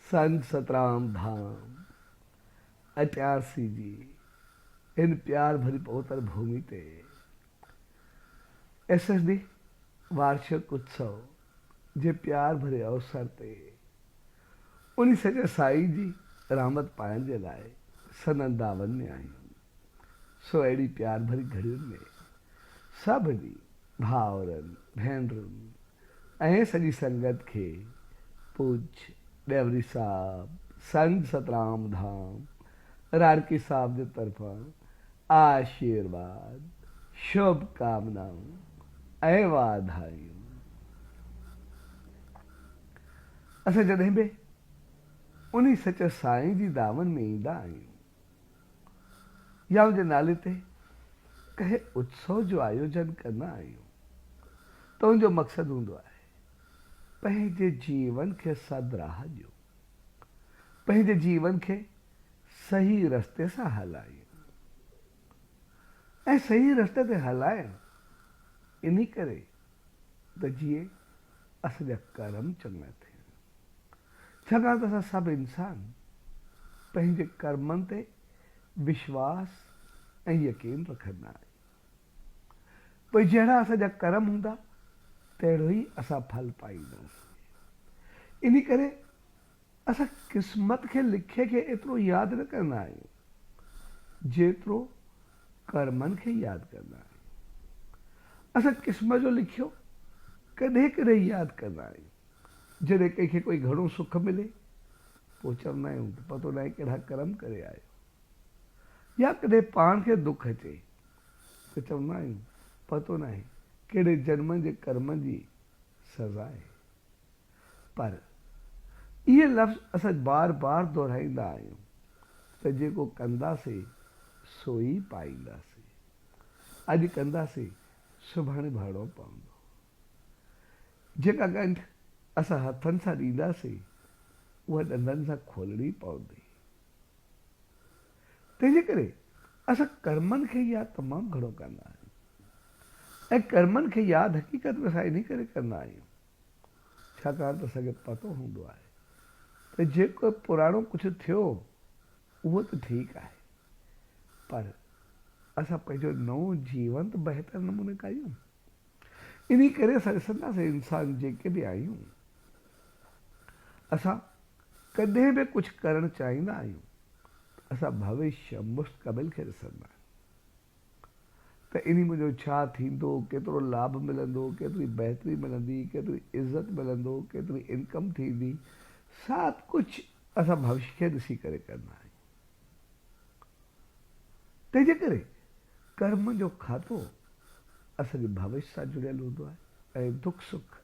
سنگ سترام ڌام اچارسي جي ان پيار ڀري پوتر ڀومي تي ايس ايس ڊي وارشڪ اتسو جي پيار ڀري اوسر تي انهي سڄي سائين جي رحمت پائڻ جي لاء سندن دعون ۾ آهيون سو اهڙي پيار ڀري گهڙين ۾ سڀني ڀائرن، ڀينرن ۽ سڄي سنگت کي پوچ ڏيوري صاحب سنڌ سترام ڌام راڻڪي صاحب جي طرفان آشيرواد، شڀ ڪامنائون ۽ واڌايون. اسان جڏهن به انهي سچ سائين جي دامن ۾ ايندا آهيون يا ان جي نالي تي ڪنهن اتسو جو آيوجن ڪندا آهيون ته ان جو مقصد هوندو آهي پنهنجي جيون کي سد راهه ڏيون، پنهنجي جيون کي صحيح رستي سان هلايون ۽ صحيح رستي تي هلايون انهي ڪري ته جيئن اسان جا ڪرم چڱا ٿين. ڇاڪاڻ ته اسان سڀ انسان پنهنجي ڪرمن تي وشواس ۽ يقين رکندا آهيون. پوء جهڙا اسان جا ڪرم هوندا، تهڙو ئي اسان ڦل پائينداسين. انهي ڪري اسان قسمت کي لکي کي ايترو ياد نه ڪندا آهيون، جيترو ڪرمن کي ياد ڪندا آهيون. اسان قسمت جو لکيو ڪڏهن ڪڏهن ياد ڪندا آهيون، جڏهن ڪنهن کي ڪوئي گهڻو سک ملي پوء چوندا آهيون ته پتو ناهي ڪهڙا ڪرم ڪري آيو يا ڪڏهن پاڻ کي دک اچي ته چوندا آهيون پتو ناهي ڪهڙي جنم جي ڪرمن جي سزا آهي پر اهي لفظ اسان بار بار دهرائيندا آهيون ته جيڪو ڪنداسي سو ئي پائينداسي اڄ ڪنداسي سڀاڻي ڀرڻو پوندو. جيڪا ڳنڍ اسان هٿن سان ڏينداسين، اها ڏندن سان کولڻي پوندي. تنهن جي ڪري اسان ڪرمن کي ياد تمام گهڻو ڪندا آهيون ۽ ڪرمن کي ياد حقيقت ۾ اسان انهي ڪري ڪندا آهيون، ڇاڪاڻ ته اسان کي پتو هوندو آهي ته جيڪو پراڻو ڪجهه ٿيو، اهو ته ٺيڪ آهي، پر اسان پنهنجو نئون جيونت بهتر نموني ڪيون. انهي ڪري اسان ڏسنداسين انسان جيڪي به آهيون اسان ڪڏهن به ڪجهه ڪرڻ چاهيندا آهيون ته اسان ڀوشيه مستقبل کي ڏسندا آهيون ته انهي منجهو ڇا ٿيندو ڪيترو لاڀ ملندو ڪيتري بهتري ملندي ڪيتري عزت ملندو ڪيتري انڪم ٿيندي ساڀ ڪجهه اسان ڀوشيه کي ڏسي ڪري ڪندا آهيون تنهنجي ڪري ڪرم جو کاتو اسان جي ڀوش سان جڙيل هوندو آهي ۽ دک سک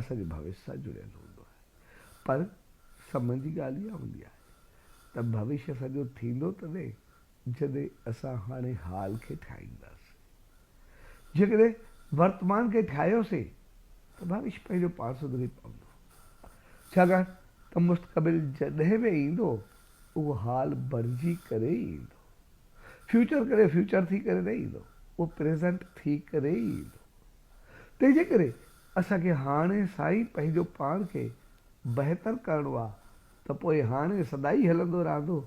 اسان جي ڀوش سان جڙيل هوندو آهي پر سمن جي ڳالهه اها هوندي آهي ته ڀوش اسان جو ٿيندو تڏهن جڏهن اسان هاڻي حال کي ٺاهينداسين جيڪڏهن ورتمان کي ٺاهيوسين ته ڀوش پنهنجو پاڻ سڌري پوندو ڇاڪاڻ ته مستقبل جڏهن به ايندو اهو حال بڻجي ڪري ئي ايندو. فيوچر ڪڏهن فيوچر ٿي ڪري نه ايندو، اهو پريزنٽ ٿي ڪري ئي ايندو. تنهن جي ڪري اسان کي هاڻي سان ئي پنهنجو پاڻ کي بهتر ڪرڻو آهي ته پوء هاڻي سدائين هلندو رهندو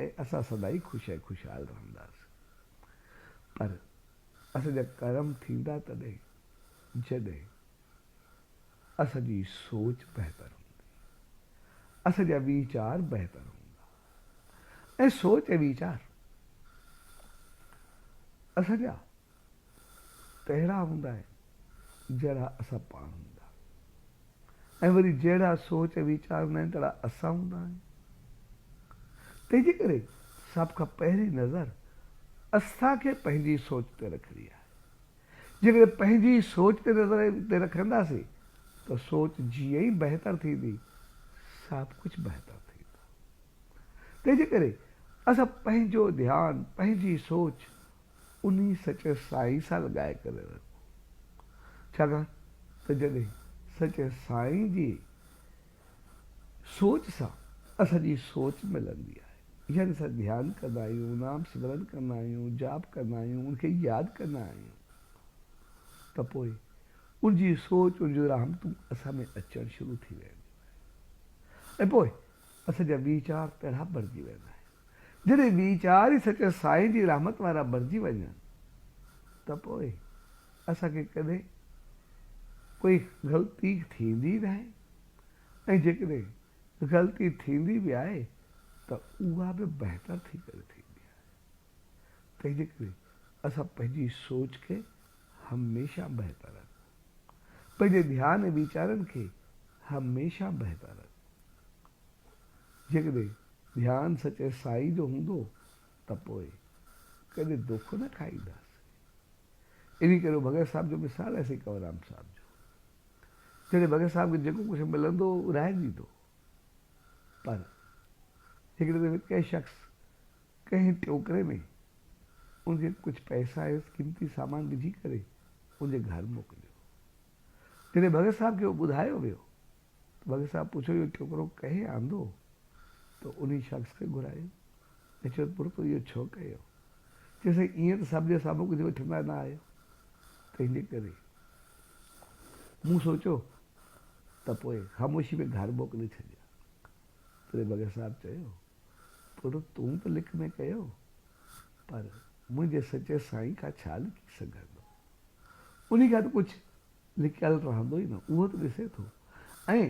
۽ اسان سدائين خوش ۽ خوشحال رهنداسين. پر اسان جا ڪرم ٿيندا تڏهن جڏهن. اسان جي سوچ بهتر هوندي، اسان جا ويچار بهتر هوندا ۽ سوچ ۽ ويچار اسان جا تهڙا هوندا آهن، جهڙا اسان پاڻ هوندا ۽ وري جهڙا سوچ ۽ ويچار هوندا آهن، تهڙا اسان هوندا آهيون. تنهن جي ڪري سڀ کان پهرين نظر اسان کي پنهنجي سوچ تي رکڻي آهي. جيڪڏهن پنهنجي سوچ تي نظر تي رکنداسين ته سوچ جيئن ئي بهتر ٿيندي سڀ ڪجهه بهتر ٿيندو. تنهن جي ڪري اسان پنهنجو ڌيان، پنهنجي سوچ انهي سچي سائين سان لڳائي ڪري رکون ڇاڪاڻ ته جڏهن سچي سائين جي. سوچ سان اسان جي سوچ ملندي آهي يعني اسان ڌيان ڪندا آهيون نام سمرن ڪندا آهيون جاپ ڪندا آهيون ان کي ياد ڪندا آهيون ته پوء ان جي سوچ ان جون رحمتون اسان ۾ اچڻ شروع ٿي وينديون آهن ۽ پوء اسان جا ويچار پهرا بڻجي ويندا آهن جڏهن ٻي چار ئي سچ سائين جي رحمت وارا بڻجي وڃن ته پوء اسان کي ڪڏهن ڪوئي غلطي ٿيندي ئي ناهي ۽ جيڪڏهن غلطي ٿيندي به آهي ته اها به بهتر ٿي ڪري ٿيندي آهي. تنهنجي ڪري اسان پنهنجي سوچ کي هميشه بهتر رکون. پنهنجي ڌيان ۽ ويچارن کي هميشه بهتر رکون. جيڪڏهن ڌيان سچي سائين جو هوندو ته پوء ڪڏهن دوکو نه کائينداسين. انهي ڪري ڀڳت صاحب جو مثال آهي سائين ڪنوررام صاحب جو. جڏهن ڀڳت صاحب کي جيڪو ڪجهه ملندو هو ورهائي ڏيندو هو. پر هڪڙي دفعي ڪنهن شخص ڪنهن ٽوڪري ۾ ان کي ڪجهه پئسا ۽ قيمتي سامان وجهي ڪري ان جي گهر موڪليو. جڏهن ڀڳت صاحب کي اهو ٻڌايو ويو. بگ صاحب پڇيو اهو ٽوڪرو ڪنهن آندو؟ تو انهي شخص کي گهرايو؟ پڇيو پڙ تو اهو ڇو ڪيو؟ چيو سائين ايئن ته سڀ جا سڀ ڪجهه وٺندا نه آهيو تنهنجي ڪري مون سوچيو ته پوء خاموشي ۾ گهر موڪلي ڇڏيان تڏهن بگ صاحب چيو پڙ تون ته لڪ ۾ ڪيو پر منهنجي سچي سائين کان ڇا لڪي سگهندو انهي کان ته پڇ لڪيل رهندو ئي نه، اهو ته ڏسي ٿو ۽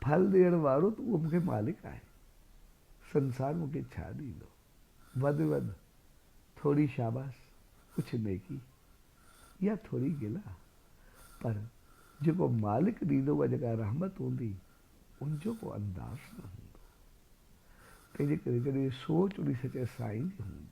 ڦل ڏيڻ وارو ته اهو مون کي مالڪ آهي، سنسار مون کي ڇا ڏيندو؟ وڌ وڌ ٿوري شاباس، ڪجهه نيڪي يا ٿوري گلا، پر جيڪو مالڪ ڏيندو اها جيڪا رحمت هوندي، ان جو ڪو انداز نه هوندو، تنهنجي ڪري جڏهن سوچ اڙي سچئي سائين جي هوندي،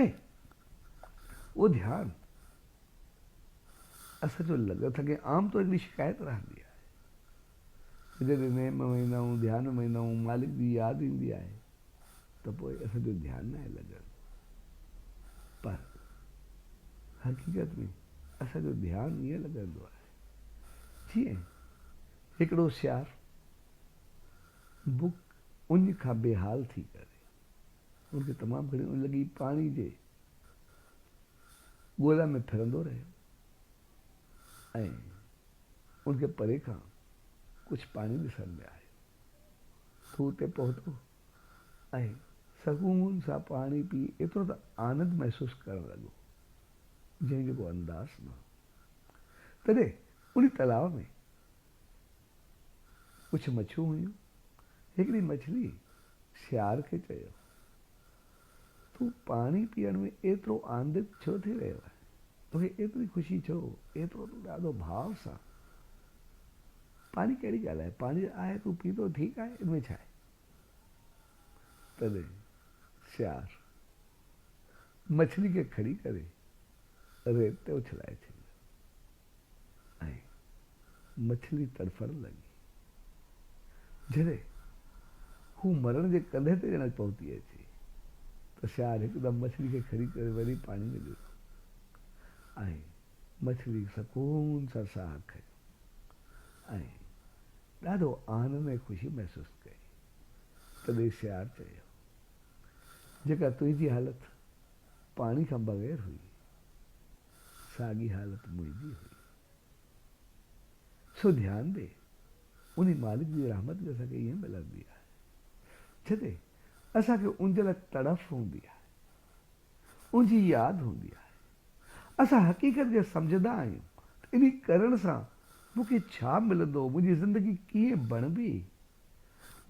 ۽ اهو ڌيان اسان جو لڳ ٿا ڪيون عام طور هڪڙي شڪايت رهندي آهي ته جڏهن نيم ۾ ويندا آهيون ڌيان ۾ ويندا آهيون مالڪ جي ياد ايندي آهي ته پوء اسان جو ڌيان ناهي لڳندو پر حقيقت ۾ اسان جو ڌيان ائين لڳندو آهي جيئن هڪڙو سياح بک اڃ کان بي حال ٿي ڪري هن کي تمام گهڻي اڃ لڳي پاڻي جي ڳولا ۾ ڦرندو رهيو ۽ هن کي پري کان ڪجهه پاڻي ڏسڻ ۾ آيو. هو اتي پهتو ۽ سڪون سان پاڻي پي ايترو ته آنند محسوس ڪرڻ لڳو جنهن جو ڪو انداز نه هو. تڏهن انهي تلاء ۾ ڪجهه مڇيون هيون. هڪڙي مڇلي سيار کي چيو، تون پاڻي پيئڻ ۾ ايترو آنندت ڇو ٿي رهيو آهين؟ توکي ايتري خوشي ڇو؟ ايترو تون ڏاڍو ڀاء سان پاڻي ڪهڙي ڳالهه آهي؟ پاڻي ته آهي، تون پيتو ٺيڪ آهي، ان ۾ ڇا آهي؟ تڏهن سيار مڇلي کي کڻي ڪري ريت تي اڇلائي ڇڏيو. ۽ مڇلي تڙڦڻ لڳي. جڏهن هو مرڻ جي ڪنڌي تي ڄڻڪ پهتي اچي ته سياهڙ هڪدم مڇلي کي کڻي ڪري وري پاڻي ۾ ڏنو ۽ مڇلي سڪون سان ساهه کنيو ۽ ڏاڍو آنند ۽ خوشي محسوس ڪئي. تڏهن سياهڙ چيو، جيڪا تنهنجي حالت پاڻي کان بغير هئي، ساڳي حالت منهنجي هئي. سو ڌيان ڏي، انهي مالڪ جي رحمت به اسان کي ائين ملندي آهي. جتي اسان کي ان جي لاء تڙڦ هوندي آهي، ان جي ياد هوندي آهي. اسان حقيقت کي سمجهندا آهيون ته انهي ڪرڻ سان مون کي ڇا ملندو، منهنجي زندگي ڪيئن بڻبي،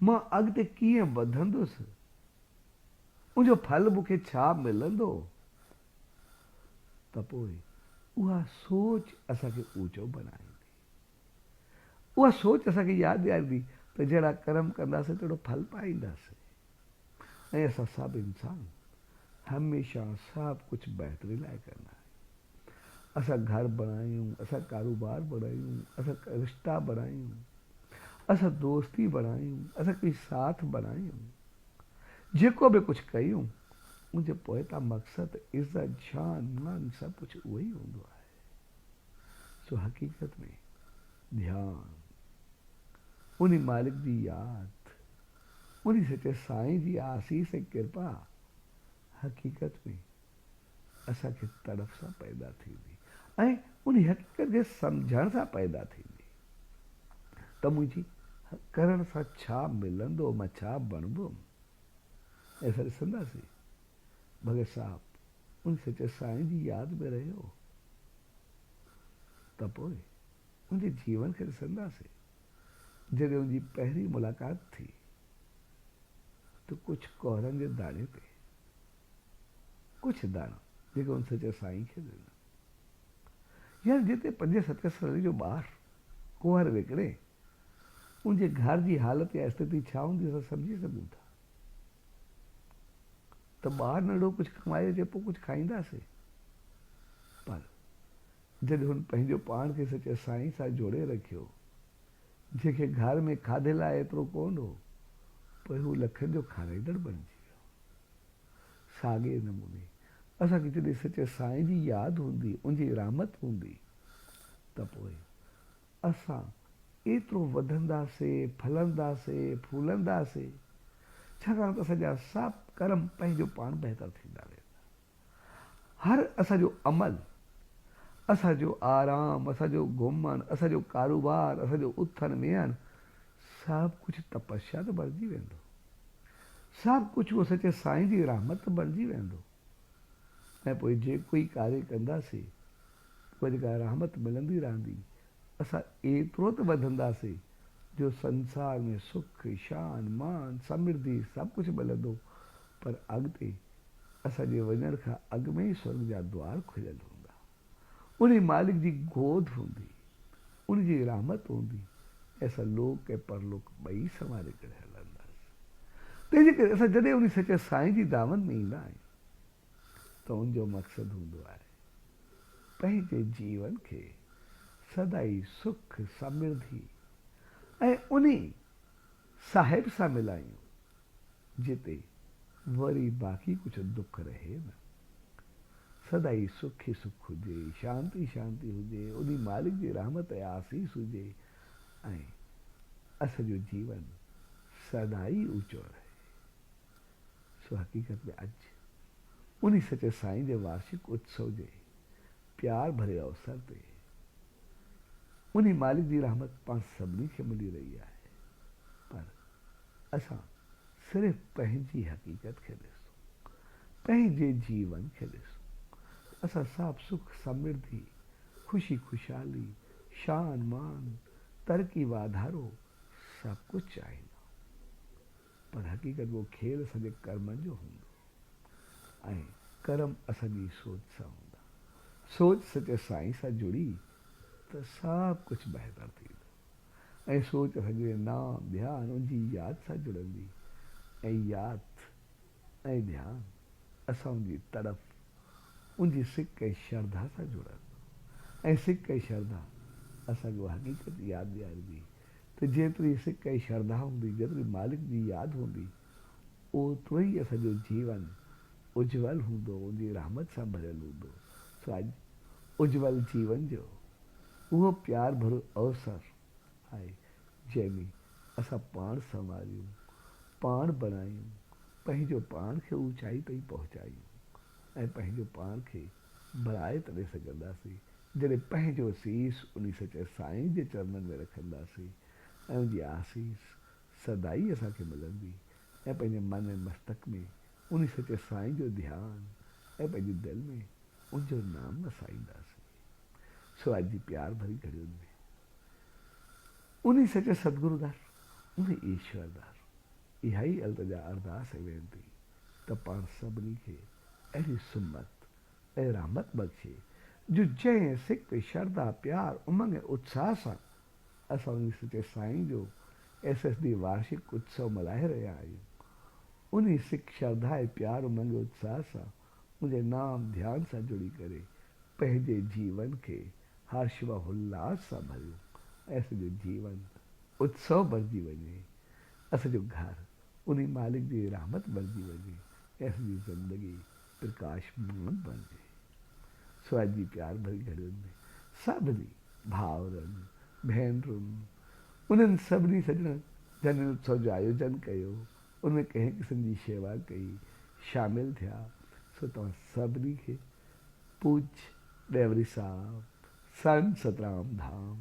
مان اڳتي ڪيئن وڌندس، ان جو ڦل مون کي ڇا ملندو، ته پوء اها سوچ اسان کي اوچو بڻائيندي. اها سوچ اسان کي ياد ڏياريندي ته جهڙا ڪرم ڪنداسين تهڙو ڦل پائينداسين ۽ اسان سڀ انسان هميشه سڀ ڪجهه بهتري لاء ڪندا آهيون. اسان گهر بڻايون، اسان ڪاروبار بڻايون، اسان رشتا بڻايون، اسان دوستي بڻايون، اسان ڪجهه ساٿ بڻايون. جيڪو به ڪجهه ڪيون، ان جي پوئتان مقصد، عزت، شان، مان سڀ ڪجهه اهو ئي هوندو آهي. سو حقيقت ۾ ڌيان، انهي مالڪ جي ياد، انهي سچي سائين جي آسيس ۽ ڪرپا، حقيقت ۾ اسان کي تڙپ سان پيدا ٿيندي ۽ انهي حقيقت جي سمجهڻ سان پيدا ٿيندي ته منهنجي ڪرڻ سان ڇا ملندو مان ڇا بڻبم ۽ اسان ڏسنداسين ڀڳت صاحب انهي سچل سائين جي ياد ۾ رهيو ته پوء انهي جيون کي ڏسنداسين جڏهن انهي پهرين ملاقات ٿي ته ڪجهه ڪهرن جي داڻي تي ڪجهه داڻا جيڪي ان سچل سائين کي ڏنن. يار جتي پنجين ستين سالن جو ٻار ڪنوار وڪڻي ان جي گهر جي حالت يا استٿي ڇا هوندي اسان سمجهي سگهون ٿا ته ٻار ننڍو ڪجهه ڪمائي اچي پوء ڪجهه کائينداسين پر جڏهن هن پنهنجو پاڻ کي سچل سائين سان جوڙي رکيو جنهن کي گهر ۾ کاڌي لاء ايترو ڪونه هو پوء هو لکن جو کارائيندڙ بڻجي ساڳئي نموني اسان کي جڏهن سچي سائين جي ياد هوندي، ان جي رحمت هوندي ته پوء اسان ايترو وڌنداسين، ڦلنداسين، ڦولنداسين، ڇاڪاڻ ته اسان جا سڀ ڪرم پنهنجو پاڻ بهتر ٿيندا ويندا. هر اسان جو عمل، اسان جو آرام، اسان جو گهمڻ، اسان جو ڪاروبار، اسان جو اٿڻ ويهڻ سڀ ڪجهه تپسيا ته بڻجي ويندو. سڀ ڪجهه اهو سچي سائين جي رحمت ته بڻجي ويندو. ۽ پوء جيڪو ئي ڪاري ڪنداسين، پوء جيڪا رحمت ملندي رهندي، اسان ايترو ته وڌنداسين جو سنسار ۾ سک، شان، مان، سمرڌي سڀ ڪجهه ملندو. پر اڳتي اسان جي وڃڻ کان اڳ ۾ ئي سرڳ جا دوار کليل هوندا. انهي مالڪ جي گود هوندي، ان جي رحمت هوندي ۽ اسان لوڪ ۽ پرلوڪ ٻئي سنواري ڪري هلنداس. تنهنجي ڪري اسان جڏهن انهي سچي سائين جي دامن ۾ ايندا آهيون ته ان جو مقصد هوندو آهي پنهنجي جيون کي سدائين سک، سمرڌي ۽ انهي. صاحب سان ملايون جتي وري باقي ڪجهه دک رهي نه. سدائي سک ئي سک هجي، شانت ئي شانتي هجي، انهي مالڪ جي رحمت ۽ آسيس هجي ۽ اسان جو جيون سدائي اوچو رهي. سو حقيقت ۾ اڄ انهي سچي سائين جي وارشڪ اتسو جي پيار ڀري اوسر تي انهي مالڪ جي رحمت پاڻ سڀني کي ملي رهي آهي پر اسان صرف پنهنجي حقيقت کي ڏسون پنهنجي جيون کي ڏسون اسان سڀ سک سمرڌي خوشي خوشحالي شان مان ترقي واڌارو سڀ ڪجهه چاهيندا آهيون. پر حقيقت ڪو کيل اسان جي ڪرمن جو هوندو ۽ ڪرم اسان جي سوچ سان هوندا. سوچ سچي سائين سان جڙي ته سڀ ڪجهه بهتر ٿيندو ۽ سوچ اسان جي نام، ڌيان، ان جي ياد سان جڙندي ۽ ياد ۽ ڌيان اسان ان جي تڙپ، ان جي سڪ ۽ شرڌا سان جڙندو ۽ سڪ ۽ شرڌا اسان کي اها حقيقت ياد ڏياريندي ته جيتري سڪ ۽ شرڌا هوندي، جيتري مالڪ جي ياد هوندي، اوترو ئي اسان جو جيون اجول هوندو، ان جي رحمت سان ڀريل هوندو. سو اڄ اجول جيون جو اهو پيار ڀرو اوسر آهي، جنهن ۾ اسان پاڻ سنواريون، پاڻ بڻايون، پنهنجو پاڻ کي اوچائي تائين پهچايون ۽ پنهنجو پاڻ کي ڀرائي تڏهن سگهنداسين، جڏهن پنهنجو سيس انهي سچل سائين جي چرنن ۾ رکنداسين ۽ ان جي آسيس سدائين اسان کي ملندي ۽ پنهنجي من ۽ مستڪ ۾ انهي سچل سائين جو ڌيان ۽ پنهنجي دل ۾ ان جو نام وسائينداسين. سوات جي پيار ڀري گهڙين ۾ انهي سچل ستگرو در، انهي ايشور در اها ئي التجا، ارداس ۽ وينتي ته پاڻ سڀني کي اهڙي سمت ۽ رحمت بخشي جو جنهن سڪ، شرڌا، پيار، امنگ ۽ اتساهه سان اسان انهي سچي سائين جو ايس ايس ڊي وارشڪ اتسو ملهائي رهيا آهيون انهي سڪ، شرڌا ۽ پيار، امنگ ۽ اتساهه سان انجي نام ڌيان سان جڙي ڪري پنهنجي جيون کي هرش و هلاس سان ڀريون ۽ اسان جو جيون اتسو ڀرجي وڃي اسان جو گهر، انهي مالڪ جي رحمت ڀرجي وڃي ڪنهن جي زندگي پرڪاشمان بڻجي. سوات جي پيار ڀري گهڙين ۾ سڀني ڀائرن، ڀينرن، انهن سڀني سڄڻن جن هن اتسو جو آيوجن ڪيو، ان ۾ ڪنهن قسم جي شيوا ڪئي، شامل ٿيا، سو توهان سڀني کي پوڄ ڏيوري صاحب، سن سترام ڌام،